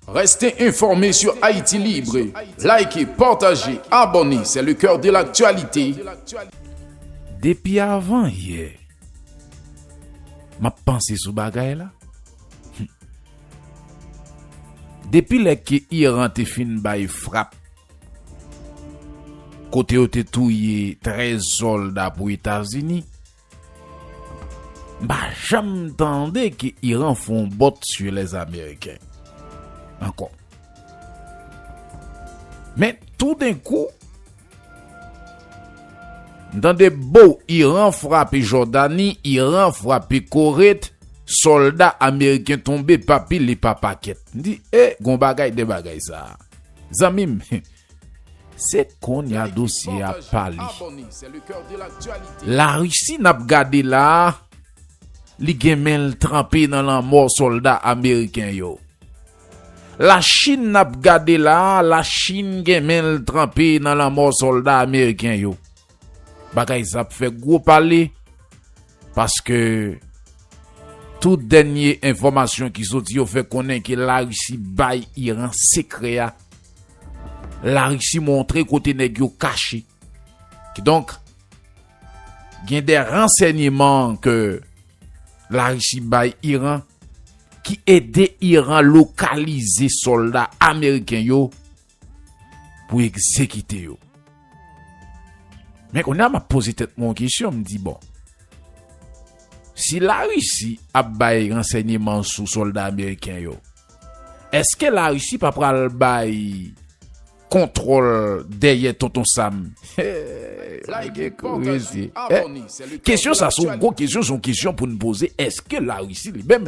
Reste informe sur Haïti Libre, Like, partage, abonne c'est le coeur de l'actualité. Depi avan yè map panse sou bagay la humm depi lè ke Iran te fin bay frap kote yo te touye 13 solda pou etazini. M pa janm tande ke Iran fon bòt su lè ameriken ankò. Men tou den kou m tande bou Iran frape Jòdani, Iran frape Koret, sòlda ameriken tonbe pa pil e pa pakèt. M di e gon bagay de bagay sa a. Zanmi m Se konnya dosye a pale. La Russie nap gade la a li gen menl tranpe nan lanmò solda ameriken yo. La chine nap gade la a la chine gen menl tranpe nan lanmò solda ameriken yo. Bagay sa ap fè gwo pale paske tout dènye enfòmasyon ki soti yo fè konnen ke Larisi bay Iran sekrè a. Larisi montre kote nèg yo kache. Kidonk, gen de ransènyeman ke Larisi bay Iran ki ede Iran lokalize sòlda ameriken yo pou egzekite yo. Men kounye a m ap poze tèt mwen yon kesyon, m di bon, si Larisi ap bay ransèyeman sou sòlda ameriken yo, èske Larisi pa pral bay kontwòl dèyè Tonton Sam? Kesyon sa se yon gwo kesyon, se yon kesyon pou n poze, èske Larisi li menm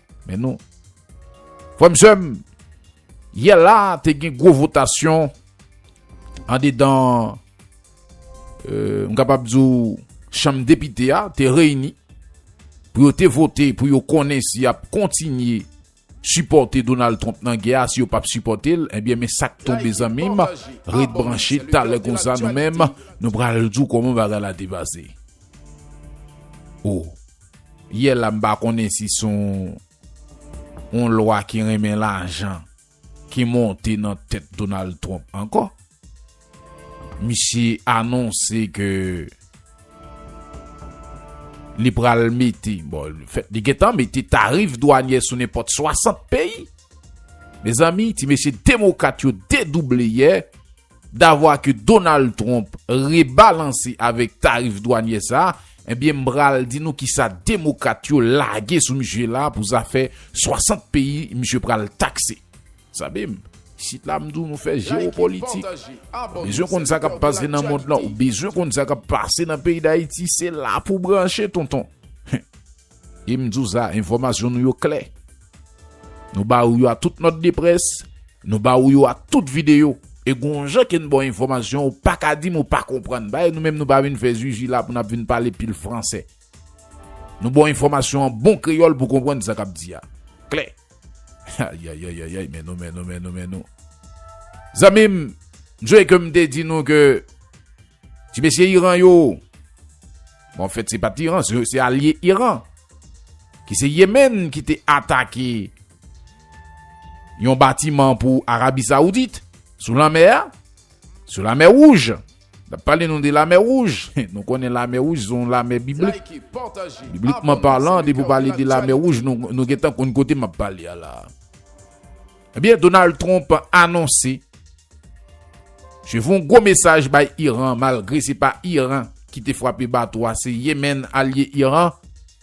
Men nou. Frèm sèm, yè la te gen gwo votasyon an dedan euh, m kapab di ou chanm depite a te reyini pou yo te vote pou yo konnen si ap kontinye supporter Donald Trump nan gè a si yo pap supporter l, eh bien men sak tombe zanmim, ret branche talè konsa nou menm nou pral di w koman bagay la te pase. Oh. Yè la m pa konnen si son yon lwa ki renmen lajan ki monte nan tèt Donald Trump ankò. Misye anonse ke li pral mete, bon li fèt li gentan mete tarif dwanyè sou nenpòt 60 peyi. Mezanmi ti mesye demokrat yo dedouble yè Davwa ke Donald Trump rebalanse avèk tarif dwanyè sa, ebyen m pral di nou kisa demokrat yo lage sou misye la pou zafè 60 peyi misye pral takse. Sabe m? Isit la m di w nou fè jewopolitik. Ou bezwen konn sa k ap pase nan mond lan, ou bezwen konn sa k ap pase nan peyi Dayiti, se la pou w branche tonton. E m di w sa, enfòmasyon nou yo klè. Nou ba ou yo ak tout nòt de près, nou ba ou yo ak tout videyo. E gon jan ke n ba w enfòmasyon ou pa ka di m ou pa konprann. Bay nou menm nou pa vin fè zuzu la pou n ap vin pale pil fransè. Nou ba w enfòmasyon an bon kreyòl pou w konprann sa k ap di a. Klè. Ayayayayay men nou men nou men nou men nou. Zanmi m, m sonje ke m te di nou ke ti mesye Iran yo, Bon an fèt se pat Iran se alye Iran ki se Yemen ki te atake yon batiman pou Arabi Saoudit sou lanmè a, sou lamè wouj. N ap pale nou de lamè wouj, nou konnen lamè wouj se yon lamè biblik. Biblikman palan depi w pale de lamè wouj nou gentan konn kote m ap pale a la. Ebyen Donald Trump anonse Je voun gwo mesaj bay Iran malgre se pa Iran ki te fwape bato a se Yemen alye Iran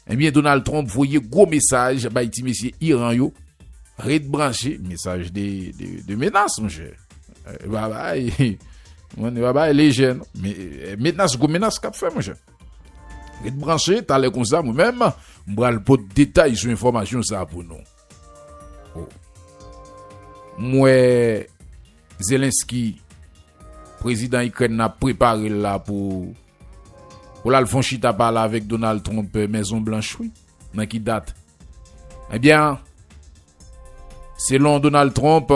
ebyen Donald Trump voye gwo mesaj bay ti mesye Iran yo ret branche mesaj de menas monchè e pa bay mwen e pa bay lejè non menas gwo menas kap fè monchè ret branche talè konsa mwen menm m pral pot detay sou enfòmasyon sa pou nou. Oh. M wè Zelensky prezidan Ikrèn nan ap prepare l la pou pou l al fon chita pale avèk Donald Trump euh, Mezon Blanch wi. Nan ki dat? Ebyen, selon Donald Trump,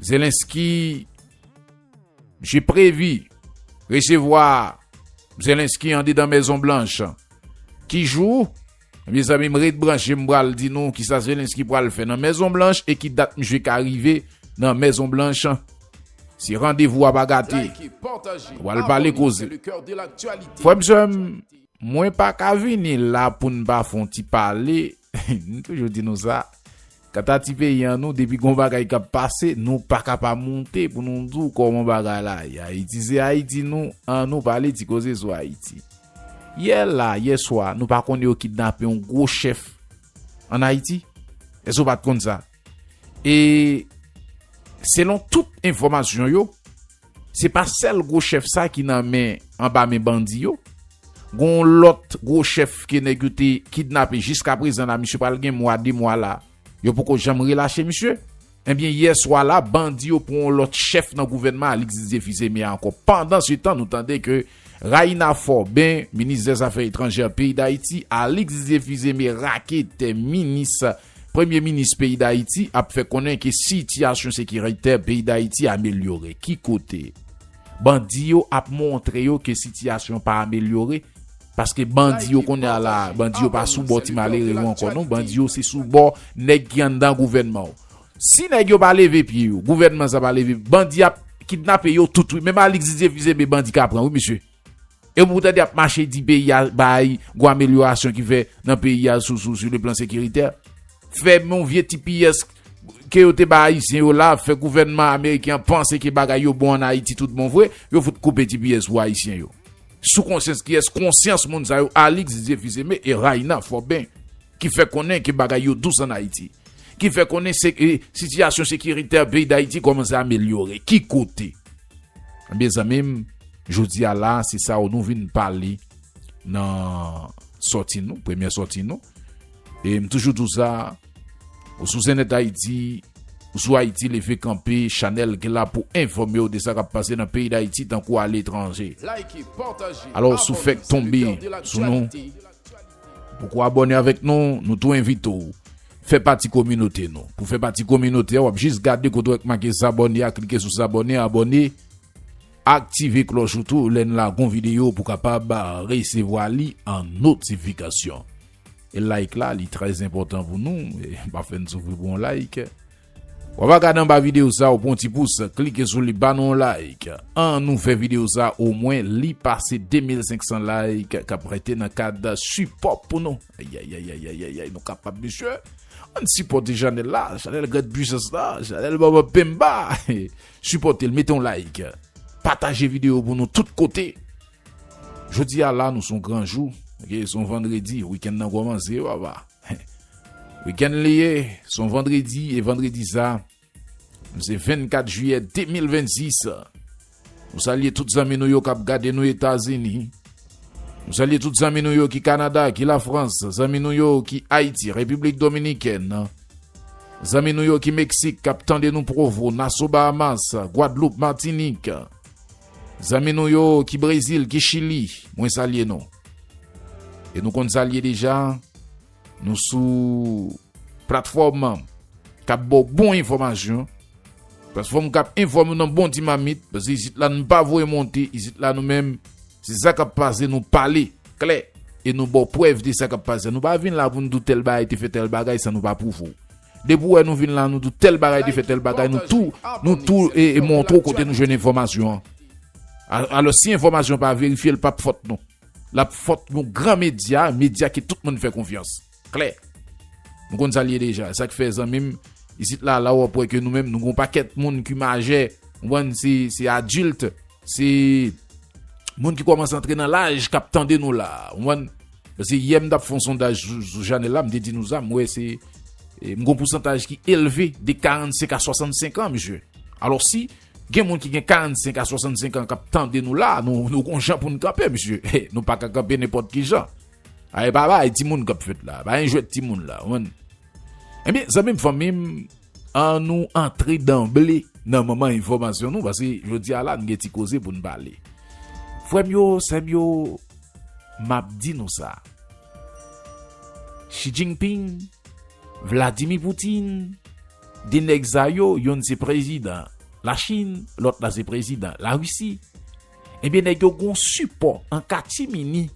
Zelensky Misye previ resevwa Zelensky andedan Mezon Blanch. Ki jou? Mezanmi m ret branche m pral di nou kisa Zelensky pral fè nan Mezon Blanch e ki dat misye ka rive nan Mezon Blanch. Se randevou a pa gate. Nou pral pale koze. Frè m sè m, mwen pa ka vini la pou n pa fon ti pale M toujou di nou sa, kanta ti peyi an nou depi gon bagay kap pase nou paka pa moute pou nou di w kòman bagay la ye Ayiti se Ayiti nou an nou pale ti koze sou Ayiti. Yè la, yè swa nou pa konn yo kidnape yon gwo chèf an Ayiti? Èske w pat konn sa? E selon tout enfòmasyon yo, se pa sèl gwo chèf sa ki nan men anba men bandi yo. Gon yon lòt gwo chèf ke nèg yo te kidnape jiska prezan la misye pral gen mwa 2 mwa la yo poko janm relache misye. Ebyen yè swa la bandi yo pran yon lòt chèf nan gouvènman Alix Didier Fils-Aimé a ankò. Pandan se tan nou tande ke Raïna Forbin, minis dè zafè etranjè peyi Dayiti, Alix Didier-Fils-Aimé raketè minis Premye minis peyi Dayiti ap fè konnen ke sitiyasyon sekiritè peyi Dayiti amelyore. Ki kote? Bandi yo ap montre yo ke sitiyasyon pa amelyore paske bandi yo kounye a la, bandi yo pa sou bò ti malere yo ankò non, bandi yo se sou bò nèg ki anndan gouvènman. Si nèg yo pa leve pye yo, gouvènman sa pa leve, bandi ap kidnape yo tout wi. Menm Alix Didier Fils-Aimé bandi ka pran wi mesye. Epi pou tande y ap mache di peyi a bay gwo amelyorasyon ki fè nan peyi a sou sou le plan sekiritè. Fè yon vye tps ke yo te bay ayisyen yo la, fè gouvènman ameriken an panse ke bagay yo bon an Ayiti tout bon vre, yo fout koupe tps pou ayisyen yo. Sou konsyans kiyès? Konsyans moun sa yo Alix Didier Fils-Aimé e Raina Forbin. ki fè konnen ke bagay yo dous an Ayiti, ki fè konnen sitiyasyon sekiritè peyi Dayiti kòmanse amelyore, ki kote? Ebyen zanmi m, jodi a la a, se sa w nou vin pale nan sòti nou, premyè sòti nou. E m toujou di w sa, ou sou Zenith Haiti, ou sou Haiti Leve Kanpe, chanèl ki la pou enfòme w de sa k ap pase nan peyi Dayiti tankou aletranje. Alò, si w fèk tonbe sou nou, Poko abòne avèk nou, nou tou envite w fè pati kominote nou. Pou fè pati kominote a wap jis gade kote wè k make s'abonner a klike sou s'abonner, abòne, aktive klòch ou tou lè n lage yon videyo pou kapab resevwa li an notifikasyon. E like la li trè enpòtan pou nou, pa fè n soufri pou yon like. Wap a gad anba video sa ou pwan ti pous klike sou li ba nou yon like an nou fè video sa o mwen li pase 2500 like kap rete nan kad sipò pou nou ayayayayayayay nou kapab mesye ann sipòte chanèl la chanèl grand pwisans la chanèl bòbòp penmba sipòtel mete yon like pataje video pou nou tout kote. Jodi a la nou son gran jou ok son vandredi weekend nan komanse papa weekend li ye son vandredi e vandredi sa se 24 jiyè 2026 nou salye tout zanmi nou yo kap gade nou etazini nou salye tout zanmi nou yo ki kanada ki la frans zanmi nou yo ki ayiti repiblik dominikèn zanmi nou yo ki meksik kap tande nou provo naso bahamas gwadloup matinik Zanmi nou yo ki Brezil, ki Chili, mwen salye nou. E nou konn salye deja, nou sou platfòm kap bo bon enfòmasyon. Platfòm kap enfòme nan bon ti mamit, paske isit la nou pa voye monte, isit la nou menm, se sa kap pase nou pale, klè. E nou bo prèv de sa kap pase, nou pa vin la pou nou di w tèl bagay te fè tèl bagay san nou pa pwouve w. Depi ou wè nou vin la nou dou tèl bagay te fè tèl bagay nou tou nou tou e montre ou kote nou jwenn enfòmasyon an. Alòs si enfòmasyon pa verifye l pap fòt nou. L ap fòt yon gran medya, medya ke tout moun fè konfyans. Klè. Nou konn sa l ye deja. E sa k fè zanmi m, isit la la ou ap wè ke nou menm nou gen yon pakèt moun ki majè, konprann, se adilt, se moun ki kòmanse antre nan laj k ap tande nou la. Konprann? Paske yè m tap fon sondaj sou Janel la m te di nou sa m wè se m gon pousantaj ki elve de 45 a 65 an mesye. Alò si gen moun ki gen 45 a 65 an kap tande nou la nou gon jan pou n kanpe mesye nou pa ka kanpe nenpòt ki jan. Ae pa bay ti moun kap fèt la pa yon jwèt ti moun la ou konn. Ebyen zanmim fanmim an nou antre danble nan manman enfòmasyon nou paske jodi a la nou gen ti koze pou nou pale. Frèm yo, sèm yo, map di nou sa. Xi Jinping, Vladimir Putin, 2 nèg sa yo, yonn se prezidan la Chine, lòt la se prezidan la Russie. Ebyen nèg yo gon sipò an katimini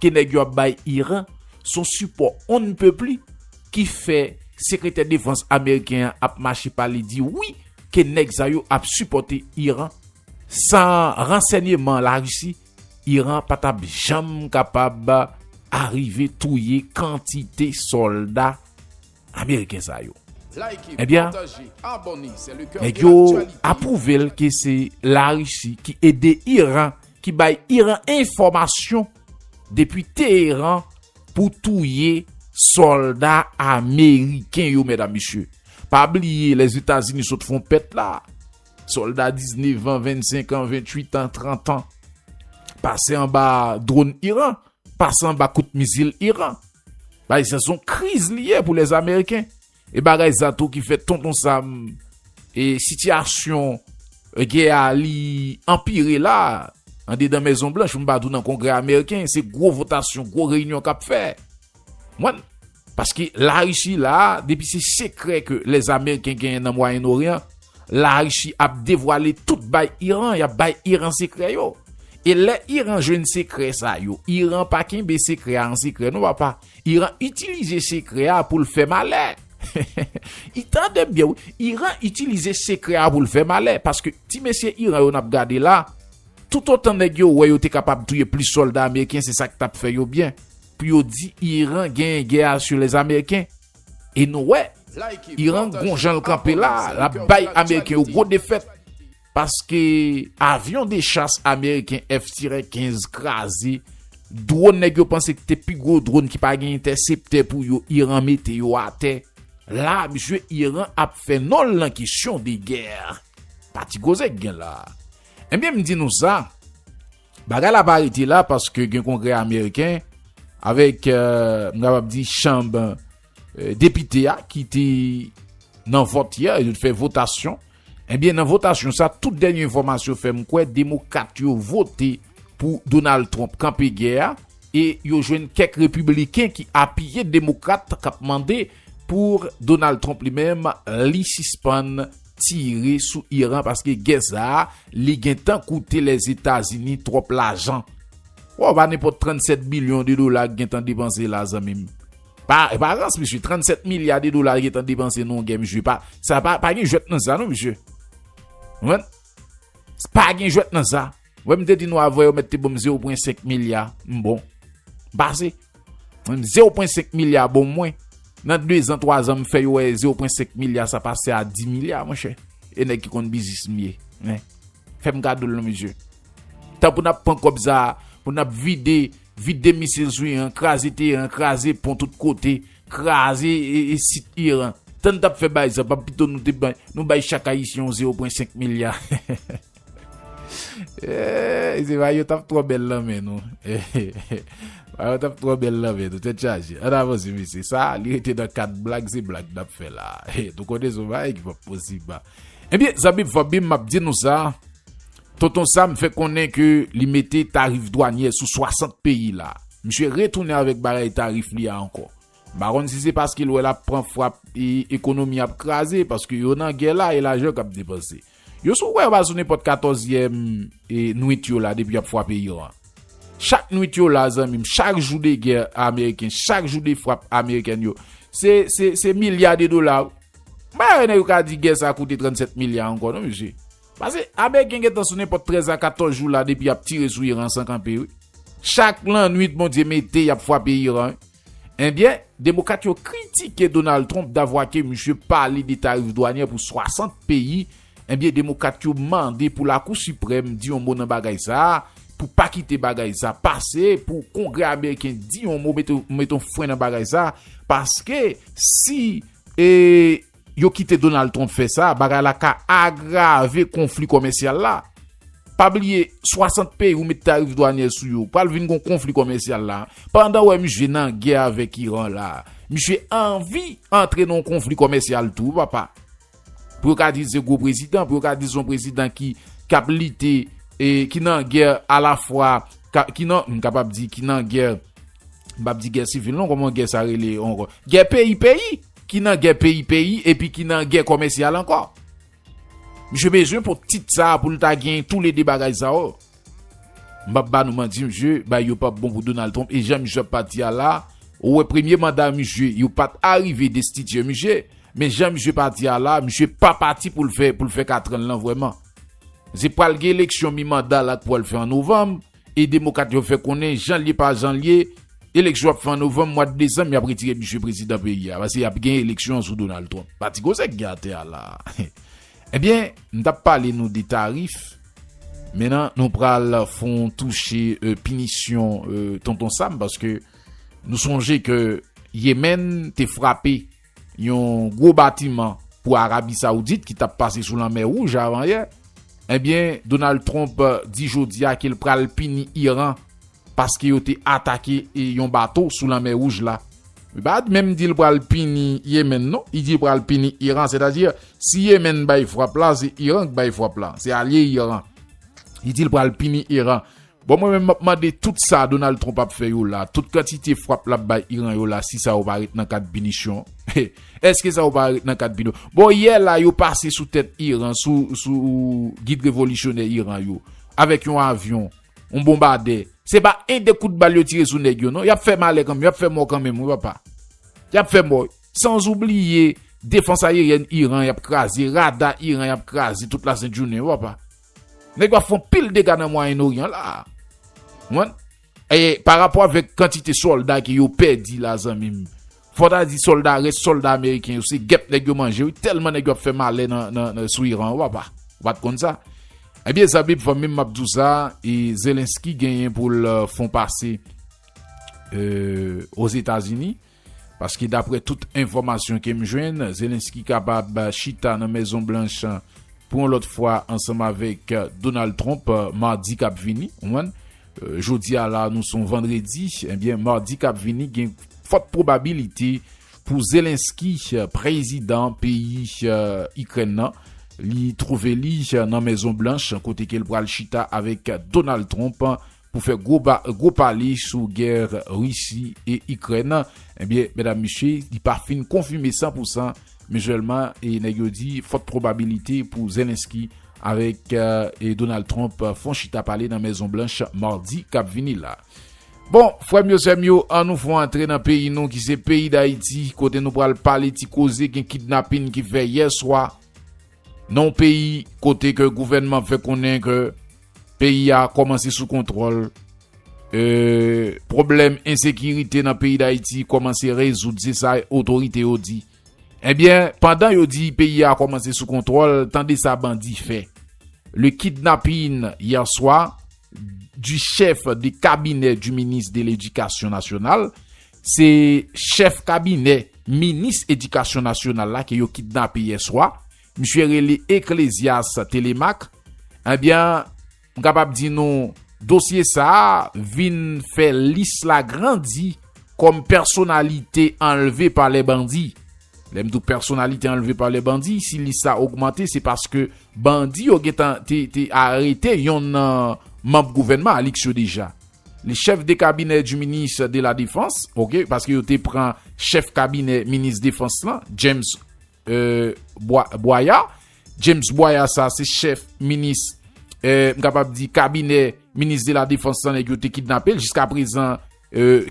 ke nèg yo ap bay Iran, son sipò on ne peut plus ki fè sekretè defans ameriken an ap mache pale di wi ke nèg sa yo ap sipòte Iran. San ransènyeman Larisi, Iran pa tap janm kapab arive touye kantite sòlda. ameriken sa yo ebyen nèg yo aprouvel ke se la risi ki ede iran ki bay iran enfomasyon depi teyeran pou touye solda ameriken yo mèdam misye pa bliye lè zetazini sot fon pèt la solda 19 an 25 an 28 an 30 an pase anba drone iran pase anba kout mizil iran Bagay sa son kriz li ye pou les ameriken. E bagay sa tou ki fè tonton sam e sitiyasyon gè a li anpire la an dedan mezon blanch m pa di w nan kongrè ameriken se gwo votasyon gwo reyinyon kap fè. Mwen paske larisi la depi se sekrè ke les ameriken genyen nan mwayen oryan. Larishi ap devwale tout bay Iran yap bay Iran sekrè yo e lè Iran jwenn sekrè sa yo Iran pa kenbe sekrè a an sekrè non papa Iran itilize sekrè a poul fè malè hehehe tande byen wi Iran itilize sekrè a poul fè malè paske ti mesye Iran yo nap gade la tout otan nèg yo wè yo te kapab touye plis sòlda ameriken se sak tap fè yo byen pou yo di Iran genyen gè a sou lèzameriken. E nou wè, Iran gon jan l kanpe la, l ap bay ameriken yo gwo defèt. Paske avyon de chas ameriken F tirè 15 kraze, dwòn nèg yo panse ki te pi gwo dwòn ki pa gen entèseptè pou yo, Iran mete yo atè. La msye Iran ap fè non l nan kesyon de gè. Pa ti koze k gen la. Ebyen m di nou sa. Bagay la pa rete la paske gen kongrè ameriken avèk m kapab di chanb depite a ki te nan vòt yè, yo te fè votasyon. Ebyen eh nan votasyon sa tout dènye enfòmasyon fè m kwè demokat yo vote pou Donald Trump kanpe gè a e yo jwenn kèk repibliken ki apiye demokrat k ap mande pou Donald Trump li menm li sispann tire sou Iran paske gè sa a li gentan koute Lèzetazini twòp lajan. Wè w pa nenpòt 37 bilyon de dola ki gentan depanse la zanmi m. Pa pa rans mesye 37 milya de dola gentan depanse nan yon gè mesye pa sa pa pa gen jwèt nan sa non mesye. Konprann? Pa gen jwèt nan sa. Wè m te di nou avwe yo mèt te bonm 0.5 milya m bon. M pase. Mwen m 0.5 milya bon mwen. Nan 2 zan 3 zan m fè yo wè 0.5 milya sa pase a 10 milya mwen chè. E nèg ki konn biznis m ye. Hein. Fè m kado l non mesye. Tan pou n ap pran kòb sa a, pou n ap vide, vide misil sou Iran, kraze Teheran, kraze pon tout kote, kraze e sit Iran. Tan n t ap fè bay sa, pa pito nou te bay, nou bay chak ayisyen yon 0.5 milya. Eeeey se mayo tap twò bèl nan men nou Eeeey mayo tap twò bèl nan men nou tèt chaje ann avanse mesye sa li rete nan kad blag se blag nap fè la Eeeey nou konnen son bagay ki pap posib la Ebyen zanmim fanmim map di nou sa Tonton Sam fè konnen ke li mete tarif dwanyè sou 60 peyi la misye retounen avèk bagay tarif li a ankò m pa konn si se paske l wè lap pran frap ekonomi ap kraze paske yo nan gè la e lajan kap depanse. Yo sou wè yo pral sou nenpòt katòzyèm nwit yo la depi yap fwape Iran. Chak nwit yo la zanmi m chak jou de gè ameriken chak jou de frap amerikèn yo se se milya de dola wi. M pa wè nèg yo ka di gè sa koute 37 milya ankò non mesye. Pase ameriken gentan sou nenpòt 13 a 14 jou la depi yap tire sou Iran san kanpe wi. Chak lannwit Bondye mete yap fwape Iran wi. Enbyen, Demokat yo kritike Donald Trump davwa ke misye pale de tarif dwanyè pou 60 peyi, enbyen Demokat yo mande pou Lakou Siprèm di yon mo nan bagay sa, pou pa kite bagay sa pase, pou Kongrè Ameriken di yon mo, mete yon fren nan bagay sa, paske si e. yo kite Donald Trump fè sa, bagay la ka agrave konfli komèsyal la. Pa bliye, 60 peyi ou met tarif dwanyè sou yo, pral vin gon konfli komèsyal la. Pandan ou wè misye nan gè avèk Iran la, misye anvi antre nan yon konfli komèsyal tou papa. Pou yo ka di l se gwo prezidan, pou yo ka di l se yon prezidan ki ap lite, ki nan gè a la fwa, ki nan, m kapab di, ki nan gè, m pap di gè sivil non, kòman gè sa rele ankò, gè peyi peyi! Ki nan gè peyi peyi epi ki nan gè kòmèsyal ankò. Misye bezwen pou tit sa pou l ta gen tou le 2 bagay sa yo. M pap ba nou manti misye bay yo pap bon pou Donald Trump e jan misye ap pati a la ou wè premye manda misye yo pat arive destitye misye men jan misye pati a la misye pa pati pou l fè pou l fè katran l lan vrèman. Se pral gen eleksyon mi manda la k pwal fè an novanm. E demokat yo fè konnen jan lye pa jan lye eleksyon ap fè an novanm mwad desanm yap retire misye prezidan peyi a paske yap gen eleksyon sou Donald Trump pati koze k gen atè a la ebyen m tap pale nou de tarif mennan nou pral fon touche pinisyon tonton Sam paske nou sonje ke Yemen te frape. Yon gwo batiman pou Arabi Saoudit ki tap pase sou lanmè wouj avanyè. Ebyen Donald Trump di jodia ke l pral pini Iran paske yo te atake yon bato sou lanmè wouj la. Li pa menm di l pral pini Yemen non, li di l pral pini Iran. Sètadi si Yemen bay fwap la, se Iran k bay fwap la. Se alye Iran. Li di l pral pini Iran. Bon mwen menm map mande tout sa Donald Trump ap fè yo la, tout kantite fwap lap bay Iran yo la si sa yo pa ret nan kad pinisyon, eske sa yo pa ret nan kad pino, bon yè la yo pase sou tèt Iran sou sou gid revolisyonè Iran yo avèk yon avyon, yon bonbadè. Se pa 1 2 kout bal yo tire sou nèg yo non, yap fè malè kanmenm, yap fè mò kanmenm wi papa, yap fè mò, sans ou bliye defans ayeryèn Iran yap kraze, rada Iran yap kraze tout la sent jounen wi papa. Nèg yo ap fon pil dega nan mwayen oryan la. Konprann? E pa rapò avèk kantite sòlda ke yo pèdi la zanmim. Fò ta di sòlda rès sòlda ameriken yo se gèp nèg yo manje wi tèlman nèg yo ap fè malè nan sou iran an papa. Ou pat konn sa? Ebyen zanmim fanmim map di w sa e zelensky genyen pou l fon pase ozetazini. Paske daprè tout enfòmasyon ke m jwenn, Zelensky kapab chita nan Mezon Blanch pou yon lòt fwa ansanm avèk Donald Trump madi kap vini. Ou konprann? Jodi a la nou son vandredi, ebyen madi kap vini gen fòt pwobabilite pou Zelensky, prezidan peyi Ikrèn nan, li twouve li nan Mezon Blanch kote ke l pral chita avèk Donald Trump pou fè gwo ba gwo pale sou gè Risi e Ikrèn, ebyen medam mesye li pa fin konfime san pou san, men sèlman e nèg yo di fòt pwobabilite pou Zelensky avèk e Donald Trump fon chita pale nan Mezon Blanch Mardi kap vini la. Bon frèm yo sèm yo an nou fon antre nan peyi nou ki se peyi dayiti kote nou pral pale ti koze gen kidnapin ki fè yè swa, Nan yon peyi kote ke gouvènman ap fè konnen ke peyi a kòmanse sou kontwòl, ke pwoblèm ensekirite nan peyi Dayiti kòmanse rezoud, se sa otorite yo di. Ebyen, pandan yo di peyi a kòmanse sou kontwòl, tande sa bandi fè. Le kidnapping hier soir du chef de cabinet du ministre de l'Education nationale Se chèf kabinè minis edikasyon nasyonal la ke yo kidnape yè swa. Misye rele Eclesias Thélémaque. Ebyen, m kapab di nou dosye sa a vin fè lis la grandi kòm pèsonalite anlve pa lè bandi. Lè m di w pèsonalite anlve pa lè bandi, si lis sa ogmante se paske bandi yo gentan te arete yonn nan manb gouvènman Alix yo deja. Le chef de cabinet du ministre de la Défense, ok, paske yo te pran chef kabinè minis defans lan, James Boyer. James Boyer sa se chef minis, m kapab di kabinè minis de la Défense lan nèg yo te kidnape l jiska prezan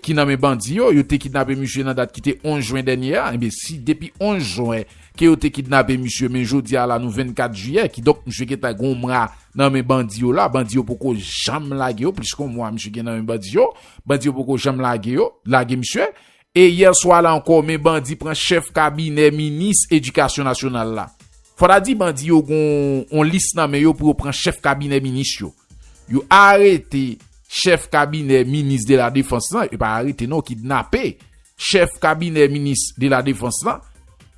ki nan men bandi yo. Yo te kidnape misye nan dat ki te 11 jwen dènye a. Enben si depi 11 jwen ke yo te kidnape misye men jodi a la nou 24 jiyè kidonk misye gentan gen yon mwa 2 nan men bandi yo la, bandi yo poko janm lage yo, plis kon mwa misye gen nan men bandi yo, bandi yo poko janm lage yo, lage misye, e yè swa la ankò men bandi pran chèf kabinè minis edikasyon nasyonal la. Fò ta di bandi yo gen yon lis nan men yo pou yo pran chèf kabinè minis yo. Yo arete chèf kabinè minis de la defans lan, yo pa arete non, kidnape Chèf kabinè minis de la defans la,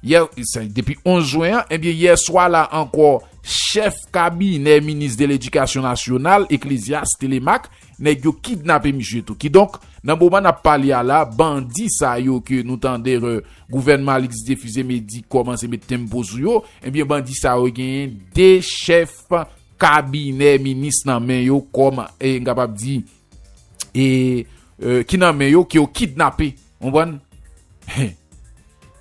yè, se depi 11 jwen an, ebyen yè swa la ankò chèf kabinè minis de ledikasyon nasyonal Eklezyas Telemaque, nèg yo kidnape misye tou. Kidonk, nan moman n ap pale a la, bandi sa yo ke nou tande re, gouvènman Alix Défi Zémédy kòmanse met tempo sou yo, ebyen bandi sa yo genyen 2 chèf kabinè minis nan men yo kòm, e m kapab di. e ki nan men yo ke yo kidnape konprann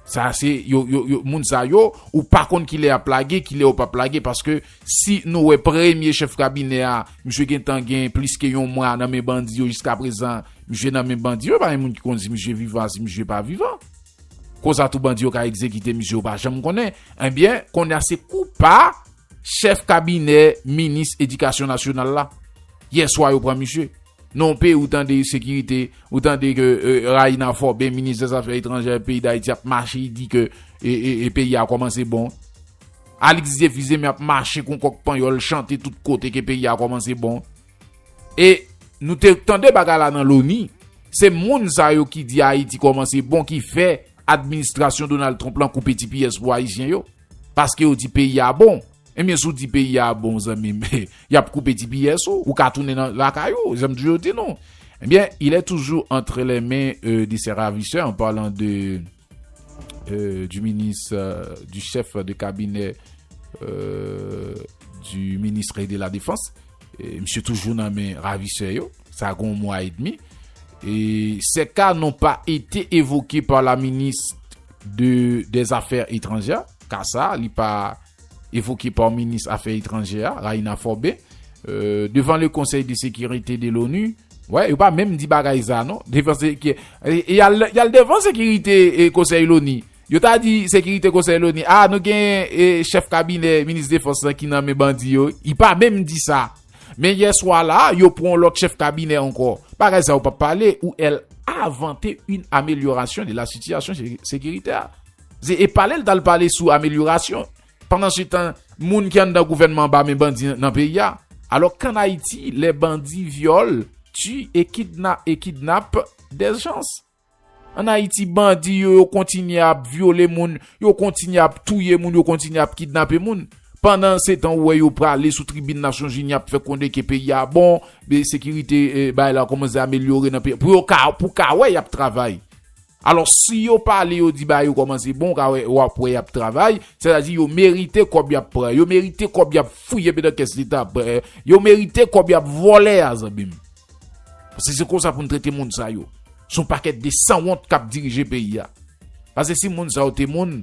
sa se yo moun sa yo ou pa konn ki lè ap lage ki lè yo pap lage paske si nou wè premye chèf kabinè a misye gen tan gen plis ke yon mwa nan men bandi yo jiska prezan misye nan men bandi yo pa gen moun ki konn si misye vivan si misye pa vivan konsa tou bandi yo ka egzekite misye yo pa janm konnen ebyen konnya se kou pa Chèf kabinè minis edikasyon nasyonal la, yè swa yo pran misye. Nan yon peyi ou tande sekirite, ou tande ke Raina Forbe, minis dè zafè etranjè peyi Dayiti ap mache di ke peyi a kòmanse bon. Alix Diefuseme ap mache kon kòk panyòl chante tout kote ke peyi a kòmanse bon. E nou te tande bagay la nan loni, se moun sa yo ki di Ayiti kòmanse bon ki fè administrasyon Donald Trump lan koupe ti piyès pou Ayisyen yo. Paske yo di peyi a bon. Ebyen si w di peyi a bon zanmi m, y ap koupe ti piyès ou, ou ka tounen nan lakay ou, jan m toujou di nou. Ebyen, il est toujours entre les mains de ses ravisseurs, en parlant de du ministre, du chef de cabinet du ministre de la défense, misye toujou nan men ravisè yo, sa gen yon mwa et demi. Ces cas n'ont pas été évoqués par la ministre de des affaires étrangères, ka sa a li pa evoke pa minis afè etranjè a, Raina Forbe, devan le konsèy de sekirite de l'ONU, wè yo pa menm di bagay sa non, devan seki, yal devan sekirite konsèy loni, yo ta di sekirite konsèy loni, a nou gen chèf kabinè minis defans lan ki nan men bandi yo, li pa menm di sa. Men yè swa la, yo pran yon lòt chèf kabinè ankò. Bagay sa yo pap pale ou el avante yn amelyorasyon de la sitiyasyon sekiritè. Se e pale l t al pale sou amelyorasyon. Pandan se tan, moun ki anndan gouvènman anba men bandi nan peyi a. Alò kan Ayiti lè bandi vyòl, ti e kidna e kidnap dèzjans. An Ayiti bandi yo yo kontinye ap vyole moun, yo kontinye ap touye moun, yo kontinye ap kidnape moun. Pandan se tan ou wè yo prale sou tribin Nasyonzini ap fè konnen ke peyi a bon, de sekirite bay la kòmanse amelyore nan peyi a. Pou yo ka, pou w ka wè y ap travay. Alò si yo pale yo di bagay yo kòmanse bon, w ka wè, w ap wè y ap travay. Sètadi yo merite kòb y ap pran, yo merite kòb y ap fouye nan kès leta, yo merite kòb y ap vòlè a zanmi m. Pase se konsa poun trete moun sa yo. Son paket de sanwont kap dirije peyi a. Pase si moun sa yo te moun.